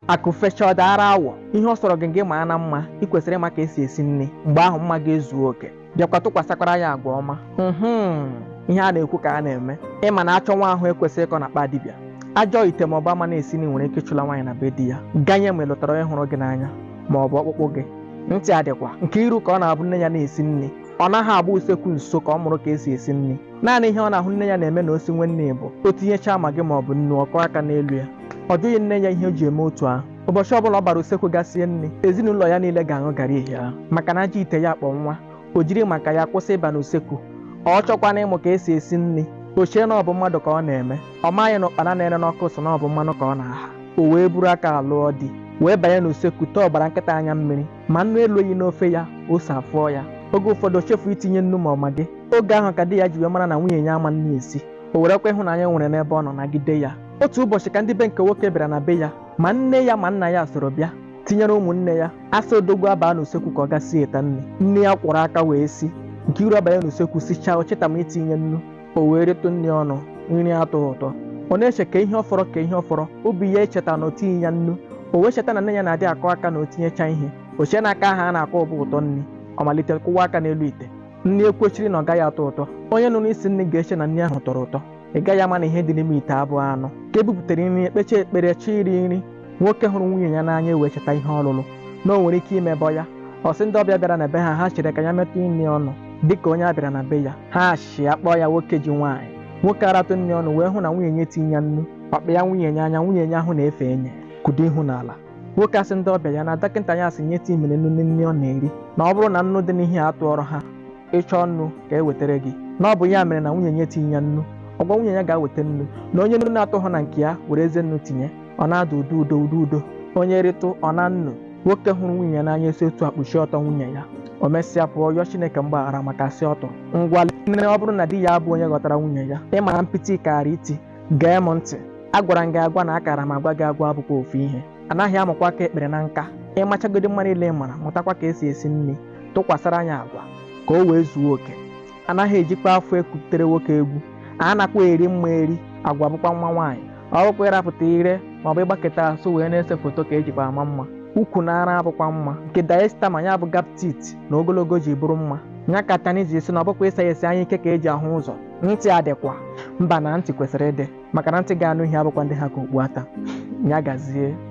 akụ fecha ọ daara awọ ihe ọ sọrọ gị gị maa na mma ị kwesịrị ịma ka esi esi nri mgbe ahụ mma gị ezuo oke bịakwa tụkwasịkwara ya agwa ọma mhm ihe a na-ekwu ka a na-eme ịma na achọ nwa ahụ ekwesịrị ịkọ n'akpa dibịa ajọ ite ma ọ bụ ama na-esi nri nwere ike ịchụla nwaanyị na be di ya ganye ma ị lụtara onye hụrụ gị n'anya ma ọ bụ ọkpụkpụ gị ntị adịkwa nkiru ka ọ na-abụ nne ya na-esi nri ọ naghị agba usekwu nso ka ọ mụrụ ka esi esi nri naanị ihe ọ na-ahụ nne ya na-eme na o siwe nri bụ o tinyechaa maggi ma ọ bụ nnu ọ kụọ aka n'elu ya ọ jụghị nne ya ihe o ji eme otu ahụ ụbọchị ọbụla ọ gbara usekwu ga sie nri ezinụlọ ya niile ga-aṅụ garị ehihie ahụ maka na ajọ ite ya kpọ nwa o jiri maka ya kwụsị ịba n'usekwu ọ chọkwana ịmụ ka esi esi nri o chee na ọ bụ mmadụ ka ọ na-eme ọ maghị na ụkpana na-ere n'ọkụ sị na ọ bụ mmanụ ka ọ na-aha o wee buru aka lụọ di wee banye n'usekwu tee ọ gbara nkịta anya mmiri ma nnu elughị n'ofe ya ose afụọ ya oge ụfọdụ o chefu itinye nnu ma ọ maggi oge ahụ ka di ya ji wee mara na nwunye ya ama nri esi o werekwa ịhụnanya o nwere n'ebe ọ nọ nagide ya otu ụbọchị ka ndị be nke nwoke bịara na be ya ma nne ya ma nna ya soro bịa tinyere ụmụnne ya asa odogwu abaa n'usekwu ka ọ ga sieta nri nne ya kwọrọ aka wee si nkiru abanye n'usekwu sichaa o cheta ma itinye nnu o wee rịtụ nri ọnụ nri atọghị ụtọ ọ na-eche kee ihe ọ fọrọ kee ihe ọ fọrọ obi ya echeta na o tinyeghị ya nnu o wee cheta na nne ya na-adị akụ aka na o tinyecha ihe o chee na aka ahụ a na-akụ bụ ụtọ nri ọ malite kụwa aka n'elu ite nri ekwechiri na ọ gaghị atọ ụtọ onye nụrụ isi nri ga-eche na nri ahụ tọrọ ụtọ ị gaghị ama na ihe dị n'ime ite abụghị anụ ka e bupụtara nri e kpechaa ekpere chi iri nri nwoke hụrụ nwunye ya n'anya ewee cheta ihe ọ lụrụ na o nwere ike imebọ ya ọ sị ndị ọbịa bịara na be ha ha chere ka ya metụ nri ọnụ dịka onye a bịara na be ya ha achịa kpọọ ya nwoke ji nwaanyị nwoke aratụ nri ọnụ wee hụ na nwunye ya etinyeghị ya nnu ọ kpa ya nwunye ya anya nwunye ya ahụ na-efe enye kpudo ihu n'ala nwoke asị ndị ọbịa ya na dọkịta ya asị nye tii mere nnu na nri ọ na-eri na ọ bụrụ na nnu dị n'ihe atọrọ ha ịchọ nnu ka e wetara gị na ọ bụ ya mere na nwunye ya etinyeghị ya nnu ọ gwa nwunye ya ga weta nnu na onye nnu na-atọghị na nke ya werezie nnu tinye ọ na-ada udo udo udo udo onye rịtụ ọ na nnu nwoke hụrụ nwunye ya n'anya esi otu a kpuchie ọtọ nwunye ya o mesịa pụọ yọọ chineke mgbaghara maka asị ọ tụrụ ngwa nne ọ bụrụ na di ya abụ onye ghọtara nwunye ya ị mara mpịtị kaara iti gee m ntị agwara m gị agwa na akara m agwa gị agwa abụkwa ofu ihe anaghị amụkwa aka ekpere na nka ịmachagodi mma niile ị mara mụtakwa ka esi esi nri tụkwasara ya agwa ka o wee zuo oke anaghị ejikwa afọ ekutere nwoke egwu a nakwa eri mma eri agwa bụkwa mma nwaanyị ọ bụkwa ịrapụta ire ma ọ bụ ịgbaketa asụ wee na-ese foto ka ejikwa ama mma ukwu na ara abụkwa mma nke diastema ya bụ gap teeth na ogologo ji bụrụ mma nya ka tani ji si na ọ bụkwa ịsa ya esi anya ike ka eji ahụ ụzọ ntị adịkwa mba na ntị kwesịrị ịdị maka na ntị ga-anụ ihe abụkwa ntị ha ka okpu ata ya gazie